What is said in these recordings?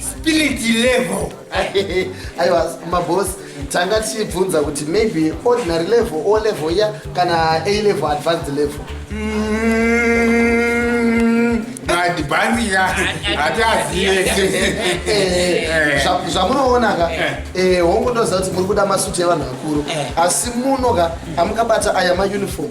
spirit level aiwa maboss tanga tichibvunza kuti maybe ordinary level o level iya kana a level advanced level adhibanzira hatiazive zvamunoona ka hongu ndoziva kuti muri kuda masuti evanhu vakuru asi muno ka amukabata aya mauniform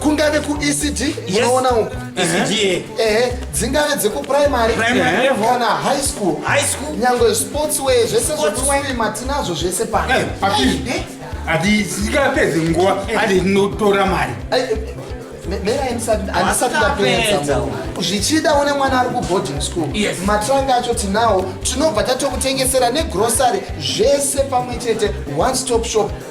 kungave kuecd unoona uku ehe eh, dzingave dzekuprimary kana high school nyangwe sports way zvese zvekuswima tinazvo zvese pano eh, handisingapedzi nguva ati ndinotora mari zvichida une mwana ari kuboarding school yes. matranga acho tinawo tinobva tatokutengesera negrocery zvese pamwe chete one stop shop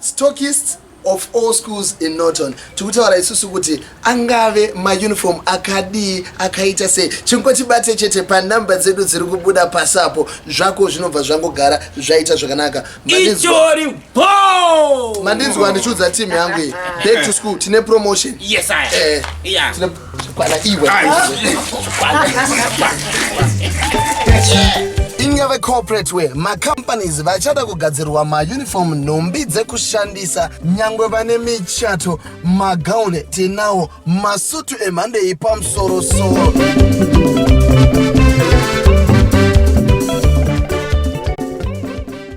Stockist of all schools in Norton tikutaura isusu kuti angave mauniform akadii akaita sei chingotibate chete panumber dzedu dziri kubuda pasi apo zvako zvinobva zvangogara zvaita zvakanaka itori bo mandinzwa ndichiudza team yangu iyi back to school tine promotion yes I eh, yeah. tine Kwana iwe. Inga vecorporate we macompanies vachada kugadzirwa mauniform nhumbi dzekushandisa nyangwe vane michato magauni tinawo masutu emhando iyi pamusorosoro